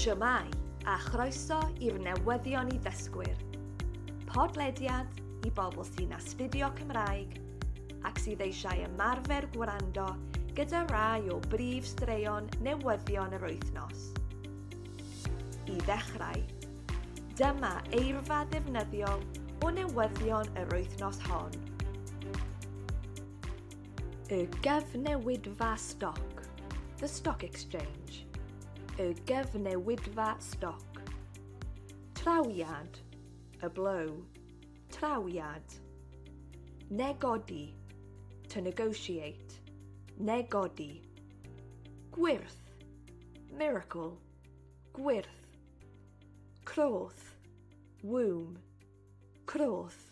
Shwmae, a chroeso i'r newyddion i ddysgwyr. Podlediad i bobl sy'n astudio Cymraeg ac sydd eisiau ymarfer gwrando gyda rai o brif straeon newyddion yr wythnos. I ddechrau, dyma eirfa ddefnyddiol o newyddion yr wythnos hon. Y gyfnewidfa stoc, the stock exchange. Y gyfnewidfa stoc. Trawiad, a blow. Trawiad. Negodi, to negotiate. Negodi. Gwyrth, miracle. Gwyrth. Croth, womb. Croth.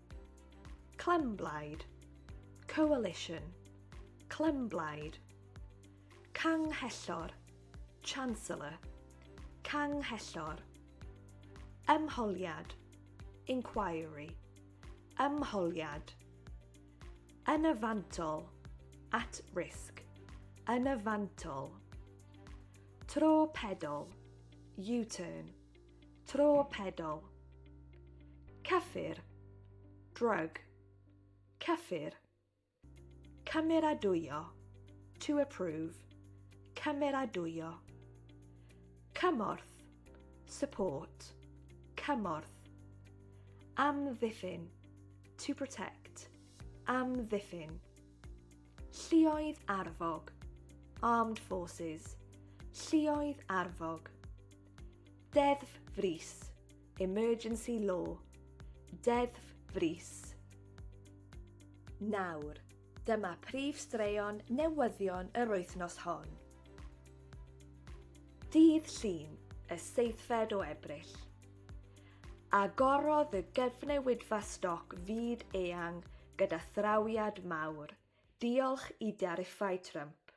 Clymblaid Coalition Clymblaid Canghellor Chancellor Canghellor Ymholiad Inquiry Ymholiad Yn y fantol At risk Yn y fantol Tro pedol U-turn Tro pedol. Cyffur. Drug. Cyffur. Cymeradwyo. To approve. Cymeradwyo. Cymorth. Support. Cymorth. Amddiffyn. To protect. Amddiffyn. Llioedd arfog. Armed forces. Llioedd arfog. Deddf frys, emergency law, deddf frys. Nawr, dyma prif straeon newyddion yr wythnos hon. Dydd Llun, y seithfed o Ebrill. Agorodd y gyfnewidfa stoc fyd eang gyda thrawiad mawr, diolch i dariffau Trump.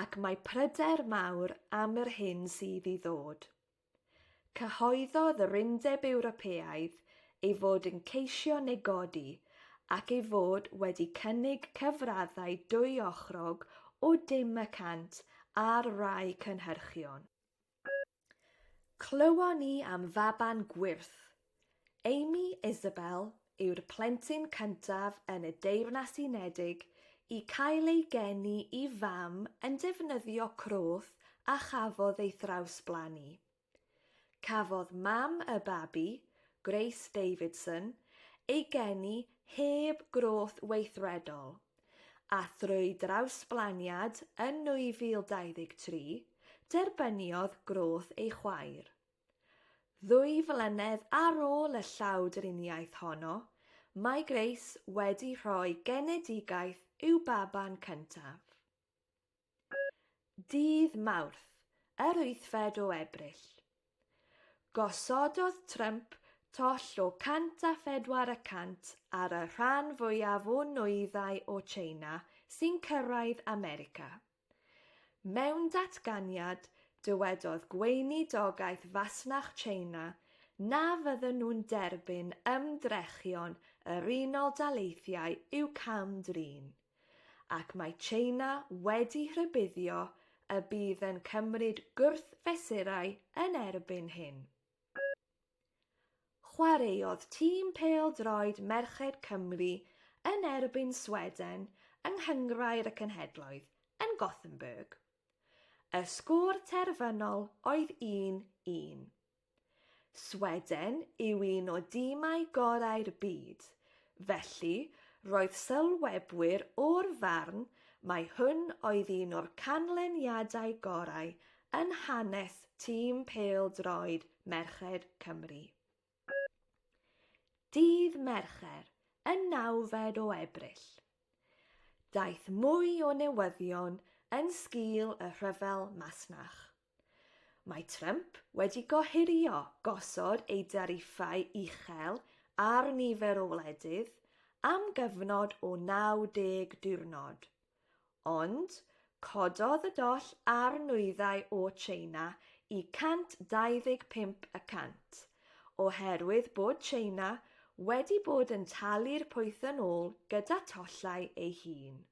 ac mae pryder mawr am yr hyn sydd i ddod. Cyhoeddodd yr Undeb Ewropeaidd ei fod yn ceisio negodi ac ei fod wedi cynnig cyfraddau dwyochrog o dim y cant ar rai cynhyrchion. Clywon ni am faban gwyrth. Amy Isabel yw'r plentyn cyntaf yn y Deyrnas Unedig i cael ei geni i fam yn defnyddio croth a chafodd ei thrawsblannu. Cafodd mam y babi, Grace Davidson, ei geni heb groth weithredol, A thrwy drawsblaniad yn 2023, derbyniodd Groth ei chwaer. Ddwy flynedd ar ôl y llawdriniaeth honno, mae Grace wedi rhoi genedigaeth i'w baban cyntaf. Dydd Mawrth, yr wythfed o Ebrill, gosododd Trump toll o 104 y cant ar y rhan fwyaf o nwyddau o Tsieina sy'n cyrraedd America. Mewn datganiad, dywedodd Gweinidogaeth Fasnach Tsieina na fydden nhw'n derbyn ymdrechion yr Unol Daleithiau i'w cam-drin. ac mae China wedi rhybuddio y bydd yn cymryd gwrthfesurau yn erbyn hyn. Chwaraeodd tîm pêl-droed merched Cymru yn erbyn Sweden yng Nghynghrair y Cenhedloedd yn Gothenburg. Y sgôr terfynol oedd 1-1. Sweden yw un o dimau gorau'r byd, felly roedd sylwebwyr o'r farn mai hwn oedd un o'r canlyniadau gorau yn hanes tîm pêl-droed merched Cymru. Dydd Mercher, y nawfed o Ebrill. Daeth mwy o newyddion yn sgil y rhyfel masnach. Mae Trump wedi gohirio gosod ei dariffau uchel ar nifer o wledydd am gyfnod o 90 diwrnod, ond cododd y doll ar nwyddau o Tsieina i 125 y cant, oherwydd bod Tsieina wedi bod yn talu'r pwyth yn ôl gyda thollau ei hun.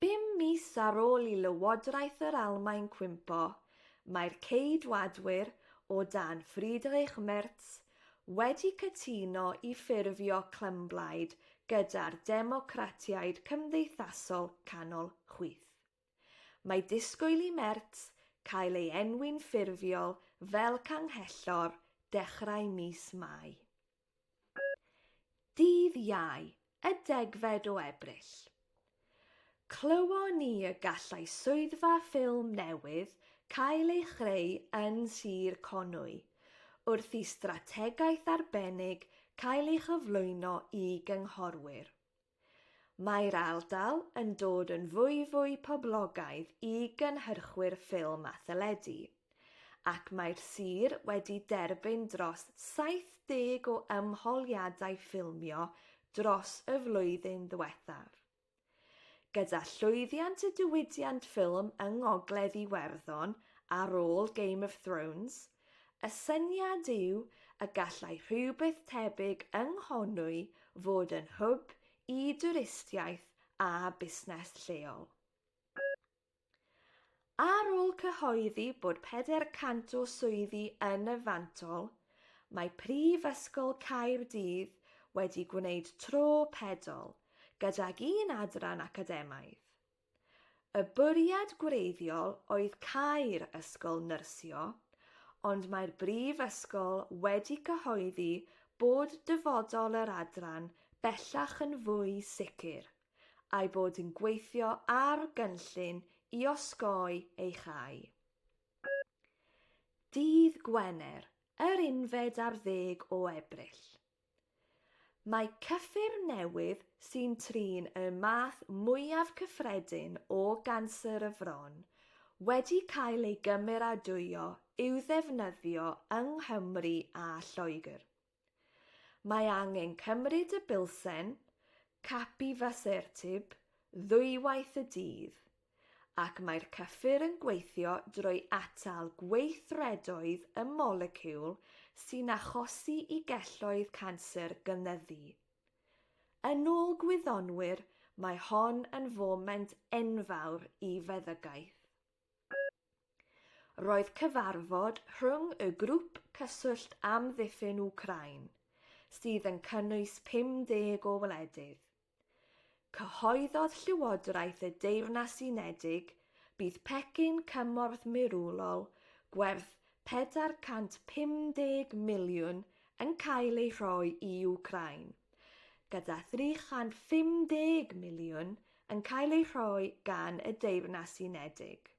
Bum mis ar ôl i Lywodraeth yr Almaen cwympo, mae'r Ceidwadwyr, o dan Friedrich Merz, wedi cytuno i ffurfio clymblaid gyda'r Democratiaid Cymdeithasol Canol chwith. Mae disgwyl i Merz cael ei enwi'n ffurfiol fel Canghellor dechrau mis Mai. Dydd Iau, y degfed o Ebrill. Clywon ni y gallai swyddfa ffilm newydd cael ei chreu yn Sir Conwy, wrth i strategaeth arbennig cael ei chyflwyno i gynghorwyr. Mae'r ardal yn dod yn fwyfwy poblogaidd i gynhyrchwyr ffilm a theledu, ac mae'r sir wedi derbyn dros 70 o ymholiadau ffilmio dros y flwyddyn ddiwethaf. Gyda llwyddiant y diwydiant ffilm yng Ngogledd Iwerddon ar ôl Game of Thrones, Y syniad yw y gallai rhywbeth tebyg yng Nghonwy fod yn hwb i dwristiaeth a busnes lleol. Ar ôl cyhoeddi bod 400 o swyddi yn y fantol, mae Prifysgol Caerdydd wedi gwneud tro pedol gydag un adran academaidd. Y bwriad gwreiddiol oedd cau'r ysgol nyrsio, ond mae'r brifysgol wedi cyhoeddi bod dyfodol yr adran bellach yn fwy sicr, a'i bod yn gweithio ar gynllun i osgoi ei chau. Dydd Gwener, yr unfed ar ddeg o Ebrill. Mae cyffur newydd sy'n trin y math mwyaf cyffredin o ganser y fron wedi cael ei gymeradwyo i'w ddefnyddio yng Nghymru a Lloegr. Mae angen cymryd y bilsen, capivasertib, ddwywaith y dydd. ac mae'r cyffur yn gweithio drwy atal gweithredoedd y moleciwl sy'n achosi i gelloedd canser gynyddu. Yn ôl gwyddonwyr, mae hon yn foment enfawr i feddygaeth. Roedd cyfarfod rhwng y Grŵp Cyswllt Amddiffyn Wcráin, sydd yn cynnwys 50 o wledydd. Cyhoeddodd Llywodraeth y Deyrnas Unedig bydd pecyn cymorth mirwrol gwerth 450 miliwn yn cael ei rhoi i Wcráin, gyda 350 miliwn yn cael ei rhoi gan y Deyrnas Unedig.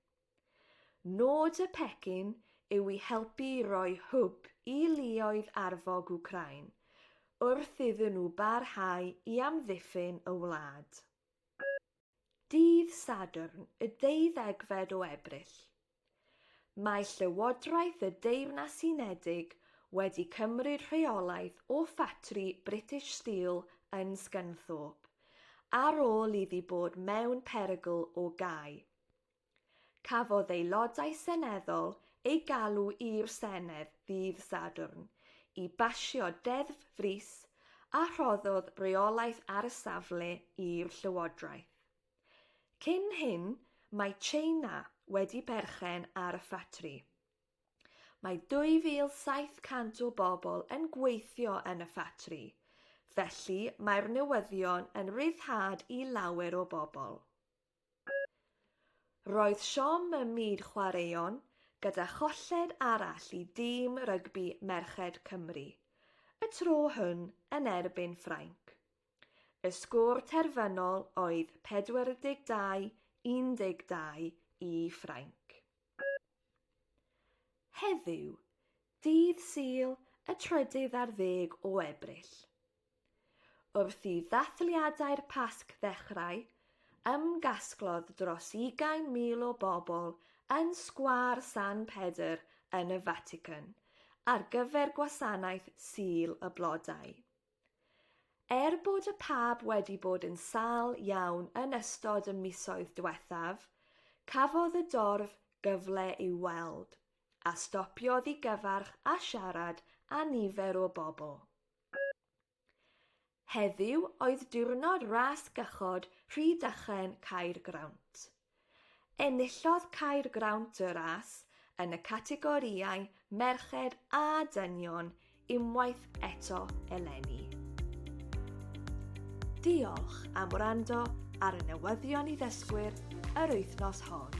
Nod y pecyn yw i helpu i roi hwb i luoedd arfog Wcráin wrth iddyn nhw barhau i amddiffyn y wlad. Dydd Sadwrn y deuddegfed o Ebrill, Mae Llywodraeth y Deyrnas Unedig wedi cymryd rheolaeth o ffatri British Steel yn Scunthorpe, ar ôl iddi bod mewn perygl o gau. Cafodd Aelodau Seneddol eu galw i'r Senedd ddydd Sadwrn i basio deddf frys a rhoddodd reolaeth ar y safle i'r Llywodraeth. Cyn hyn, mae Tsieina wedi perchen ar y ffatri. Mae 2,700 o bobl yn gweithio yn y ffatri, felly mae'r newyddion yn ryddhad i lawer o bobl. Roedd siom ym myd chwaraeon gyda cholled arall i dîm rygbi merched Cymru, y tro hwn yn erbyn Ffrainc. Y sgôr terfynol oedd 42 12 i Ffrainc. Heddiw, dydd Sul y trydydd ar ddeg o Ebrill. Wrth i ddathliadau'r Pasg ddechrau, ymgasglodd dros ugain mil o bobl yn Sgwâr San Pedr yn y Fatican ar gyfer gwasanaeth Sul y Blodau. Er bod y pab wedi bod yn sâl iawn yn ystod y misoedd diwethaf, cafodd y dorf gyfle i'w weld, a stopiodd i gyfarch a siarad â nifer o bobl. Heddiw oedd diwrnod ras gychod Rhydychen Caergrawnt. Enillodd Caergrawnt y ras yn y categorïau merched a dynion unwaith eto eleni. Diolch am wrando ar y newyddion i ddysgwyr yr wythnos hon.